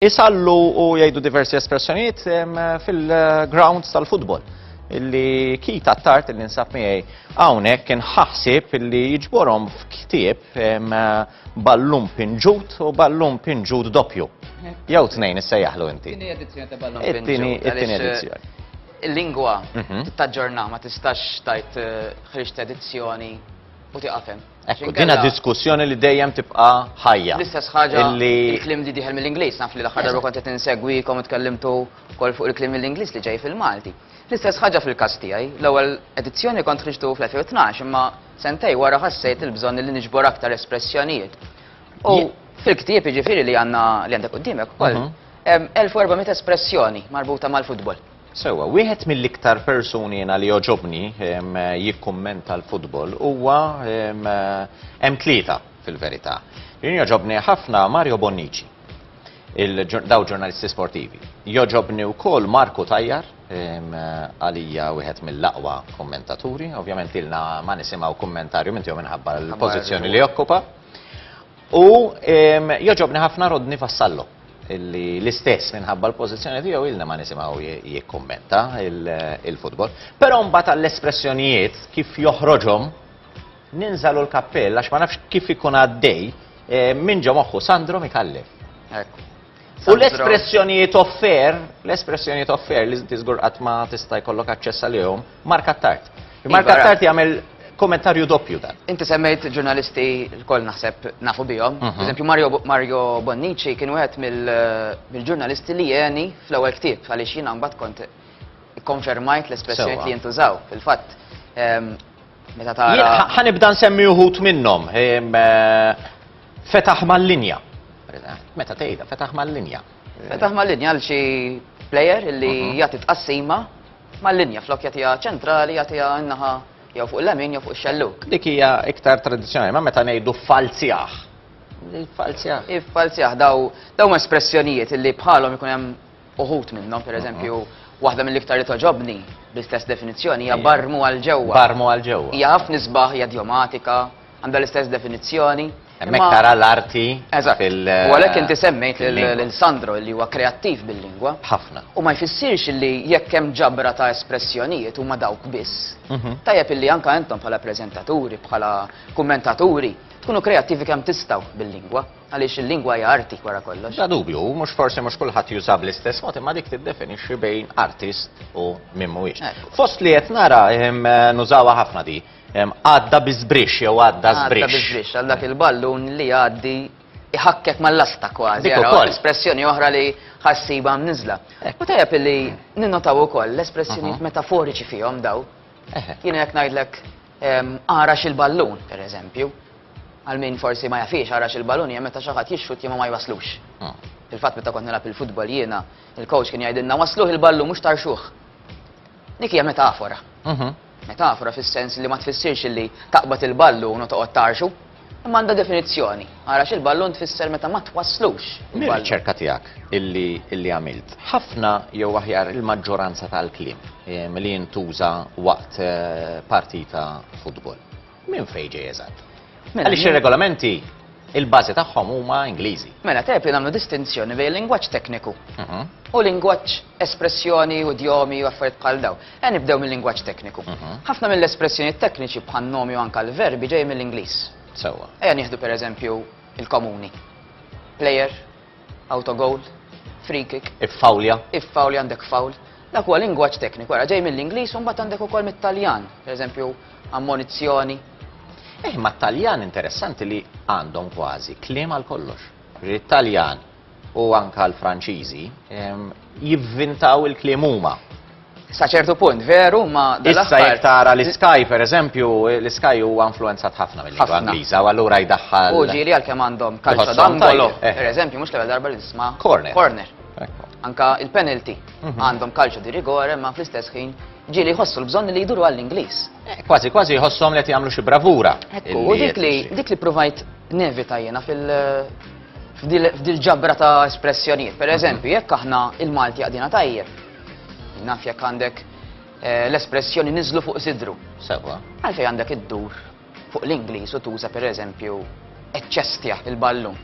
Isallu u jgħidu diversi espressjonijiet fil-grounds tal-futbol illi kita t-tart illi nsab miegħi hawnhekk kien ħaħsib illi jiġborhom f'ktieb ballum pinġut u ballum pinġut doppju. Jew tnejn issejjaħlu inti. Tieni edizzjoni ta' ballum pinġut. It-tieni edizzjoni. Il-lingwa mhm. taġġorna ma tistax tajt eh, ħriġt edizzjoni u tiqafem. Ekku, dina diskussjoni li dejjem tibqa ħajja. L-istess ħaġa il-klim li diħel mill-Inglis, naf li l-aħħar darba kont qed insegwikom tkellimtu kol fuq il-klim mill-Inglis li ġej fil-Malti. L-istess ħaġa fil-każ tiegħi, l-ewwel edizzjoni kont ħriġtu fl-2012 imma sentej wara ħassejt il-bżonn li niġbor aktar espressjonijiet. U fil-ktieb jiġifieri li għandna li għandek qudiemek ukoll, 1400 mhm. espressjoni marbuta mal-futbol. Sewwa, wieħed mill-iktar persuni jiena li jogħġobni jikkummenta l-futbol huwa hemm tlieta fil-verità. Jien jogħġobni ħafna Mario Bonnici, daw ġurnalisti sportivi. Jogħġobni wkoll Marku Tajjar, għalija wieħed mill-aqwa kummentaturi, ovvjament ilna ma nisimgħu kummentarju minn tiegħu minħabba l-pożizzjoni li jokkupa. U joġobni ħafna Rodni Vassallo li l-istess minħabba l-pożizzjoni tiegħu ilna ma nisimgħu jikkummenta il-futbol. Però mbagħad għall-espressjonijiet kif joħroġhom ninżalu l-kappell għax ma nafx kif ikun għaddej eh, minn ġo moħħu Sandro Mikallef. U l-espressjonijiet offer, l-espressjonijiet offer li inti żgur qatt ma tista' jkollok aċċess għalihom, marka tard. Iva, marka tard jagħmel kommentarju doppju dan. Inti semmejt ġurnalisti l-koll naħseb nafu bihom. Mhm. Eżempju, Mario, Mario Bonnici kien wieħed mill-ġurnalisti li jeni fl-ewwel ktieb għaliex jiena mbagħad kont konfermajt l-espressjonijiet li jintużaw. Fil-fatt, ehm, meta tara. Ħanibda nsemmi uħut minnhom. Ehm, eh, Fetaħ mal-linja. Meta tgħidha, fetaħ mal-linja. Fetaħ mal-linja għal xi plejer li mhm. jagħti tqassima mal-linja flok jagħtiha ċentrali jagħtiha naħa jew fuq il-lemin jew fuq ix-xelluk. Dik hija iktar tradizzjonali, ma meta ngħidu falzjaħ. Il-falzjaħ. Il-falzjaħ daw daw espressjonijiet li bħalhom ikun hemm uħut minnhom, pereżempju, mhm. waħda mill-iktar li toġobni bl-istess definizzjoni hija barmu għal ġewwa. Barmu għal ġewwa. Hija ħafna nisbaħ, hija djomatika, Għandha l-istess definizzjoni. Hemmhekk tara l-arti. Eżatt. U għalhekk inti semmejt lil Sandro li huwa kreattiv bil-lingwa. Ħafna. U ma jfissirx li jekk hemm ġabra ta' espressjonijiet huma dawk biss. Mhm. Tajjeb illi anke intom bħala preżentaturi, bħala kummentaturi, tkunu kreattivi kemm tistaw bil-lingwa, għaliex il-lingwa hija arti wara kollox. Da dubju, mhux forsi mhux kulħadd juża bl-istess mod imma dik tiddefinixxi bejn artist u min mhuwiex. Fost li qed nara nużawha ħafna di. Għadda bi żbrixx jew għadda żbrixx. Għadda bi żbrixx għal dak il-ballun li jgħaddi iħakkek mal-lasta kważi. Dik ukoll. Espressjoni oħra li ħassiba mniżla. U tajjeb li ninnotaw ukoll l-espressjonijiet metaforiċi fihom daw. Jien hekk ngħidlek għarax il-ballun, pereżempju. Għal min forsi ma jafix għarax il-ballun hija meta xi ħadd jixxut jimgħu ma jwaslux. Il-fatt meta kont nilgħab il-futbol jiena, il-coach kien jgħidilna wasluh il-ballun mhux tarxuh. Dik hija metafora. Metafora fis-sens li ma tfissirx illi taqbad il-ballun u toqgħod tgħarrxu, imma għandha definizzjoni. Għarax il-ballun tfisser meta ma twasslux. Mir-riċerka tiegħek illi għamilt, ħafna jew aħjar il-maġġoranza tal-kliem li jintuża waqt partita futbol, Minn fejn ġej eżatt? Mela, Għaliex ir-regolamenti il-bażi tagħhom huma Ingliżi. Mela tajb li nagħmlu distinzjoni bejn lingwaġġ tekniku mhm. u lingwaġġ espressjoni u djomi u affarijiet bħal daw. E nibdew mill-lingwaġġ tekniku. Mhm. Ħafna mill-espressjoni tekniċi bħal nomi u anka l-verbi ġej mill-Ingliż. Sewwa. Ejja nieħdu pereżempju il-komuni. Player, Autogoal, free kick. Iffawlja. Iffawlja għandek fawl. Dak huwa lingwaġġ tekniku, wara ġej mill-Ingliż u mbagħad għandek ukoll mit-Taljan, pereżempju ammonizzjoni. Eh, ma Taljan interessanti li għandhom kważi kliem għal kollox. It-Taljan u anka l-Franċiżi ehm, jivvintaw il-kliem huma. Sa ċertu punt, veru, ma Issa jekk tara l-Sky, per eżempju, l-Sky huwa influenzat ħafna mill-lingwa Ingliża, u allura jdaħħal. U ġieli għalkemm għandhom kalċa dangolo, eh. per eżempju, mhux l-ewwel darba li nisma' corner. Corner. Anka il-penalty mhm. għandhom kalċa di rigore, ma fl-istess ħin ġieli jħossu l-bżonn li jduru għall-Ingliż. Eh, kważi kważi jħossom li qed jagħmlu xi bravura. Ekku, u dik li dik li provajt nevita jiena fil- f'dil ġabra ta' espressjonijiet. Per mhm. eżempju, jekk aħna il-Malti għadina tajjeb, Naf jekk għandek eh, l-espressjoni niżlu fuq sidru. Sewa. Għalfej għandek iddur fuq l-Ingliż u tuża pereżempju eċċestja il-ballun.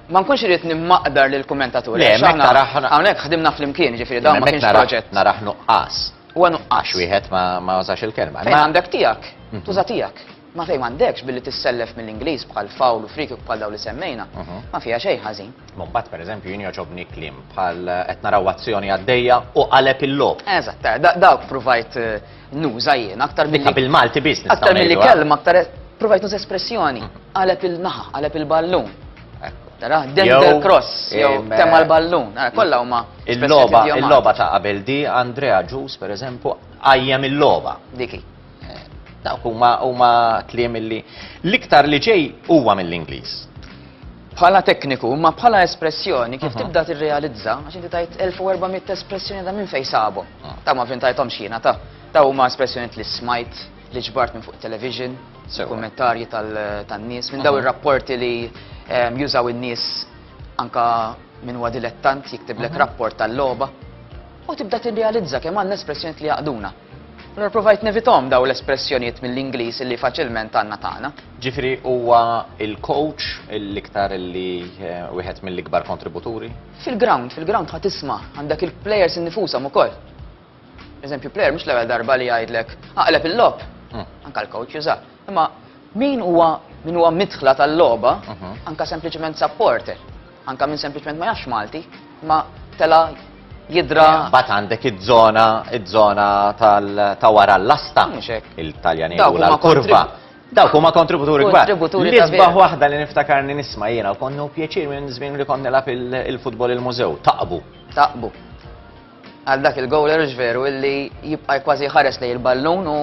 Ma nkunx irid nimmaqdar lil kummentatur. Le, mek naraħ. Hawnhekk ħdimna flimkien, ġifieri dawn ma kienx proġett. Naraħ nuqqas. Huwa nuqqas. Wieħed ma użax il-kelma. Fejn għandek tiegħek, mhm. tuża tiegħek. Ma fejn m'għandekx billi tissellef mill-Ingliż bħal foul u free kick bħal dawn li semmejna, ma fiha xejn ħażin. Ma mbagħad pereżempju jien jogħġobni kliem bħal qed naraw azzjoni għaddejja u qaleb il-logħob. Eżatt, dawk provajt eh, nuża jien aktar milli. Dikka bil-Malti biss nistgħu Aktar milli eh? kelma aktar eh, provajt nuża espressjoni, mhm. qaleb il-naħa, qaleb il-ballun. Tara, Denver Cross, jew temma l-ballun, eh, kollha huma. Il-loba, il-loba ta' qabel di Andrea Ġus, per eżempju, għajjem il-loba. Diki. Dawk huma huma tliem illi l-iktar li ġej huwa mill-Ingliż. Bħala tekniku, ma bħala espressjoni, kif mhm. tibda tirrealizza, għax inti tajt 1400 espressjoni ta' minn fej sabu. Ah. Ta' ma fin tajtom xina, ta' ta' huma espressjoni li smajt, li ġbart minn fuq television, kommentarji tal-nies, minn daw mhm. ir-rapporti li ehm, jużaw in-nies anka minn wadilettant jiktiblek mhm. rapport tal-loba. U tibda tirrealizza kemm għandna espressjoni li jaqduna. Allura provajt nevithom dawn l-espressjonijiet mill-Ingliż li faċilment għandna tagħna. Ġifieri huwa il-coach l-iktar li eh, wieħed mill-ikbar kontributuri? Fil-ground, fil-ground ħa tisma' għandek il-players innifushom ukoll. Eżempju, player mhux l-ewwel darba li jgħidlek aqleb il-lob. Hmm. Anka l-coach juża. Imma min huwa min huwa midħla tal-logħba, mhm. anka sempliċement supporter, anka minn sempliċement ma jafx Malti, ma tela jidra. Bat għandek id-żona, id-żona ta' wara l-lasta, il-Taljan jgħidula l-kurva. Dawk huma kontributuri kbar. L-isbaħ waħda li niftakarni nisma' jiena u konnu pjaċir minn żmien li konni lab il-futbol il-mużew. Taqbu. Taqbu. Għal dak il-gowler hux veru illi jibqa' kważi jħares lejn il-ballun u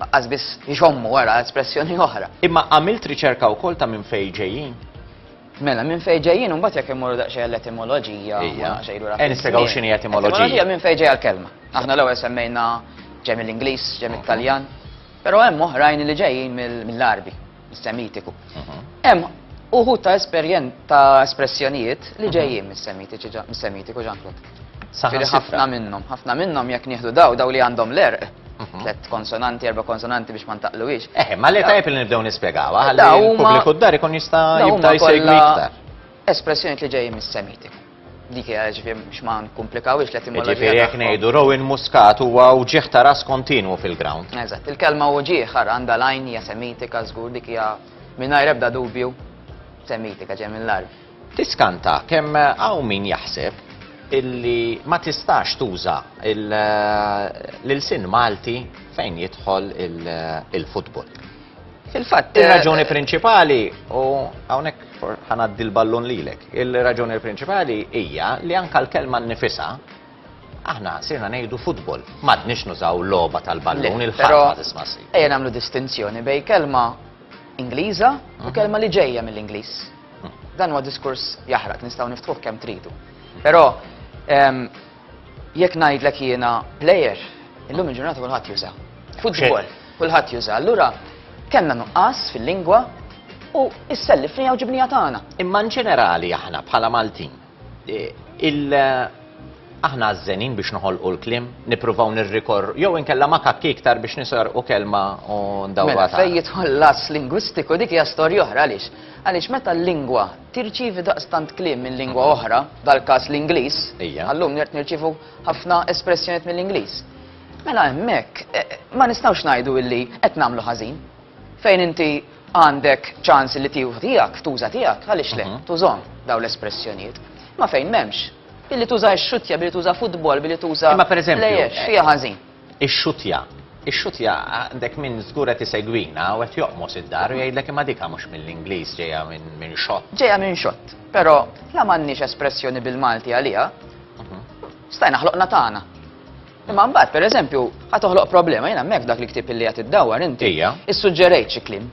qas biss jxommu wara espressjoni oħra. Imma għamilt riċerka wkoll ta' minn fejn ġejjin? Mela, minn fejn ġejjin u mbagħad jekk immorru daqsxejn l-etimoloġija. Ejja. Ejja nispjegaw x'inhi etimoloġija. Etimoloġija minn fejn ġejja l-kelma. Aħna l-ewwel semmejna ġej mill-Ingliż, ġej mit-Taljan, però hemm oħrajn li ġejjin mill-Għarbi. Semitiku. Hemm uħud ta' esperjen ta' espressjonijiet li ġejjin mis-semitiku ġanklut. Saħħa ħafna minnhom, ħafna minnhom jekk nieħdu daw, daw li għandhom l-erq, mhm. tlet konsonanti, erba' konsonanti biex ma ntaqluwix. Eh, ma li tajb li nibdew nispjegaw, għalli l-pubbliku d-dar ikun jista' jibda jsegwi iktar. Espressjonijiet li ġejjin mis-semitiku. Dik hija ġifieri biex ma nkumplikawhiex l-etimoloġija. Ġifieri jekk ngħidu Rowan Muscat huwa uġieħ ta' ras kontinwu fil-ground. Eżatt, il-kelma uġieħ ara għandha l-għajn hija semitika żgur dik hija mingħajr ebda dubju semitika ġej mill-Għarb. Tiskanta kemm hawn min jaħseb illi ma tistax tuża l-ilsien Malti fejn jidħol il-futbol. Fil-fatt, eh, il-raġuni prinċipali, u għawnek ħanaddi l-ballun lilek, il-raġuni prinċipali hija li anka l-kelma nifisa aħna sirna nejdu futbol, madnix nużaw loba tal-ballun il-ħarma dismassi. Ejja namlu distinzjoni bej kelma Ingliża u mhm. kelma li ġejja mill-Ingliż. Mhm. Dan huwa diskurs jaħraq, nistgħu niftħuh kemm tridu. Però ehm, Jekk ngħidlek jiena plejer, illum il-ġurnata kulħadd juża. Futbol, kulħadd juża. Allura kellna nuqqas fil-lingwa u issellifni jew ġibnija tagħna. Imma ġenerali aħna bħala Maltin, e, il aħna għazzenin biex noħolqu l-klim, nipruvaw nirrikor, jew inkella ma kakki iktar biex nisar u kelma u ndawra. Mela, fej jitħol las lingwistiku dik hija storja oħra għaliex. Għaliex meta l-lingwa Tirċievi daqstant kliem minn lingwa oħra, dal-każ l-Ingliż, għal-lum nirt nirċievu ħafna espressjonijiet mill-Ingliż. Mela hemmhekk ma nistgħux ngħidu illi qed nagħmlu ħażin. Fejn inti għandek ċans li tieħu tiegħek, tuża tiegħek, għaliex le, tużhom dawn l-espressjonijiet. Ma fejn m'hemmx, billi tuża x-xuttja, billi tuża futbol, billi tuża. Imma pereżempju. Lejjex, fiha ħażin. Ixxuttja. Ixxuttja, għandek min żgur qed isegwina u qed joqmos id-dar u jgħidlek imma dik mhux mill-Ingliż ġejja minn xott. Ġejja minn xott, però la m'għandniex espressjoni bil-Malti għaliha, stajna ħloqna tagħna. Imma mbagħad, pereżempju, ħa toħloq problema, jien hemmhekk dak li ktieb illi qed iddawwar inti. Ija. Issuġġerejt xi kliem.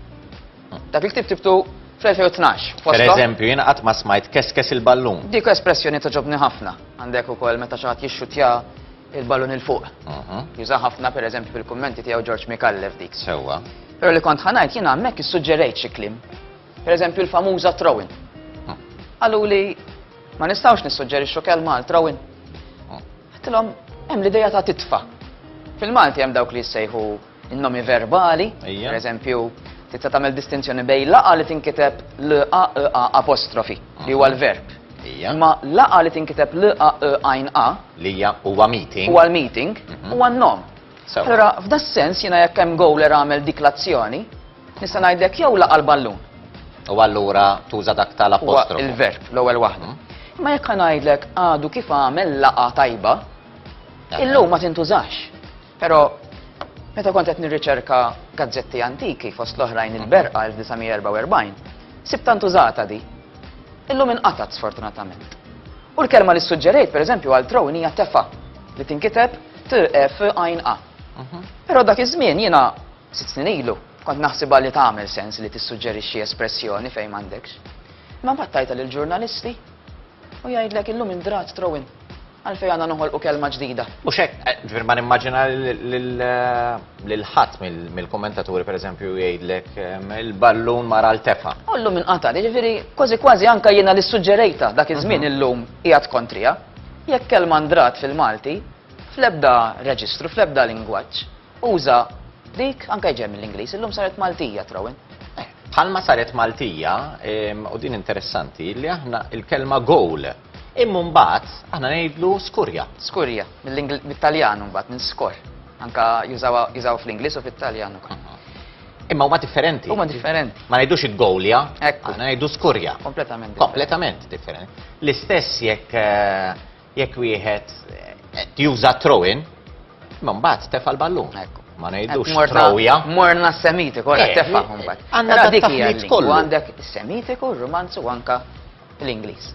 Hm. Dak li ktieb tibtu fl-2012. Per eżempju, jien qatt ma smajt keskes il-ballun. Dik espressjoni toġobni ħafna. Għandek ukoll meta xi ħadd jixxutja Il-ballun il fuq. Juża ħafna per eżempju fil-kummenti tiegħu George Mikallef dik. Sewwa. Però li kont ħanajt jiena hemmhekk issuġġerejt xi kliem. Per eżempju l-famuża throwin. Qalu li ma nistgħux nissuġġerixxu kelma għal throwin. Għattilhom hemm l-idea ta' titfa. Fil-Malti hemm dawk li jissejħu In-nomi verbali, Ejja. per eżempju, tista' tagħmel distinzjoni bejn laqa li tinkiteb l-a e a apostrofi li huwa l-verb. Ejja. Imma laqa li tinkiteb l-a e għajn a Li hija huwa meeting. huwa l-meeting huwa n-nom. Sewa. Allura, f'da sens jiena jekk hemm gowler għamel dik l-azzjoni, nista' ngħidlek jew laqa l-ballun. U allura tuża dak Huwa tal-apostrofu. il-verb l-ewwel waħda. Imma jekk ngħidlek għadu kif għamel laqa tajba, Aha. illum ma tintużax. Però meta kont qed nirriċerka gazzetti antiki fost l-oħrajn il-Berqa 1944, sibt tant użata di. Illum inqatgħet sfortunatament. U l-kelma li ssuġġerejt pereżempju għal throne hija tefa li tinkiteb TF għajn A. Mhm. Però dak iż-żmien jiena sitt snin ilu kont naħsibha li tagħmel sens li tissuġġerixxi espressjoni fejn m'għandekx. Imma mbagħad tajta lill-ġurnalisti U jgħidlek illum indrat throwin. Għalfejn għandna noħolqu kelma ġdida. U xek, eh, ġvir ma nimmaġina l-ħat eh, mill-kommentaturi, per eżempju, jgħidlek ehm, il-ballun mara l-tefa. Ullu minn qata, ġviri, kważi kważi anka jena li suġġerejta dak iż-żmien mhm. illum jgħat kontrija. Jekk kelma ndrat fil-Malti, fl-ebda reġistru, fl-ebda lingwaġġ, Uża dik, anke ġej mill-Ingliż, illum saret Maltija trawin. Eh, bħalma saret Maltija, u din interessanti, li aħna il-kelma goal Imma mbagħad aħna ngħidlu skurja. Skurja, mill-Italjan mbagħad minn skor. Anka jużaw fl-Ingliż u fit-Taljan ukoll. Imma huma differenti. Huma differenti. Ma ngħidux il-gowlja, aħna ngħidu skurja. Kompletament. Kompletament differenti. L-istess jekk eh, Jekk wieħed qed juża throw-in, ma mbagħad tefa' l-ballun. Ma ngħidux trawja. Morna s-semitiku, għal tefa' mbagħad. Għandna dik hija kollu. Għandek is-semitiku, r-rumanzu anka l-Ingliż.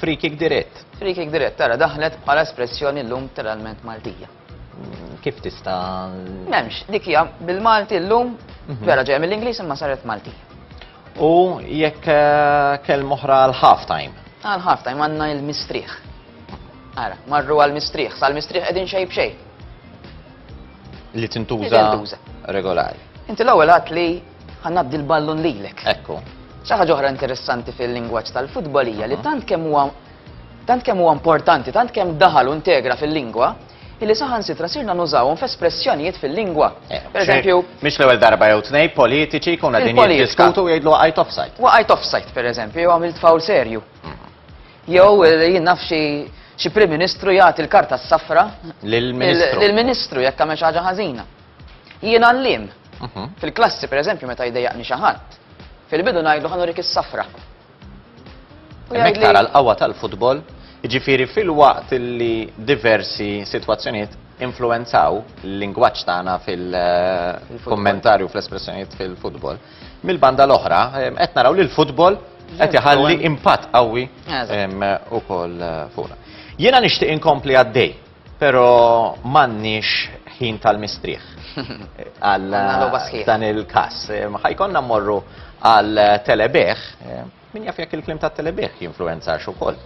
Free kick dirett. Free kick dirett, tara daħlet bħala espressjoni l-lum tal-alment Maltija. Mm, kif tista? Memx, dik hija bil-Malti l-lum, mhm. vera ġeja mill-Ingliż imma saret Maltija. U jekk eh, kell moħra għal half time. Għal half time għanna il-mistrieħ. Ara, marru għal mistrieħ, sal mistrieħ edin xej bxej. Li tintuża regolari. Inti l-ewwel għat li ħannaddi l-ballun lilek. Ekku. Xaħġa ġoħra interessanti fil-lingwaġġ tal-futbolija li mhm. tant kemm huwa tant kemm huwa importanti, tant kemm daħal u integra fil-lingwa, illi saħansitra sirna nużawhom f'espressjonijiet fil-lingwa. Eh, Pereżempju. Mhix l-ewwel darba jew tnej politiċi jkunu qegħdin jiddiskutu u jgħidlu waqajt offside. Waqajt offside, pereżempju, jew għamilt fawl serju. Mhm. Jew eh, jien naf xi Prim Ministru jagħti l-karta s-safra lill-Ministru. Lill-Ministru jekk għamel xi ħaġa ħażina. Jien għallim. Mhm. Fil-klassi, pereżempju, meta jdejjaqni xi ħadd, fil-bidu ngħidlu ħanurik is-safra. Hemmhekk tara l-qawwa tal-futbol, jiġifieri filwaqt li diversi sitwazzjonijiet influenzaw l-lingwaġġ tagħna fil-kommentarju fl-espressjonijiet fil-futbol. Mill-banda l-oħra, qed naraw li l-futbol qed iħalli impatt qawwi ukoll fuqna. Jiena nixtieq inkompli għaddej Pero m'għandniex ħin tal-mistrieħ għal dan il-każ. Ħajkonna mmorru għal telebeħ, min jaf jekk il-klim ta' telebeħ jinfluenza ukoll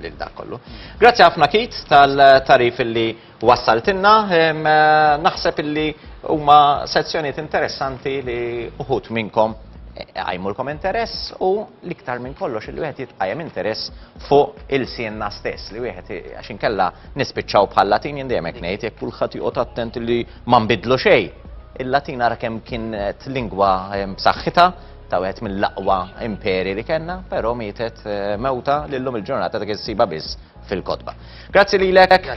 lil dak kollu. Grazzi ħafna kit tal-tarif illi wassaltinna, naħseb illi huma sezzjonijiet interessanti li uħut minnkom għajmulkom interess u l-iktar minn kollox il-wieħed jitqajem interess fuq il-sienna stess li wieħed għax inkella nispiċċaw bħal Latin jien dejjem hekk ngħid jekk kulħadd joqgħod attent li ma nbidlu xejn. Il-Latin ara kemm kienet lingwa ehm, b'saħħitha ta' wieħed mill-aqwa imperi li kellna, però mietet eh, mewta lillum il-ġurnata dak issiba biss fil-kotba. Grazzi lilek, Kit.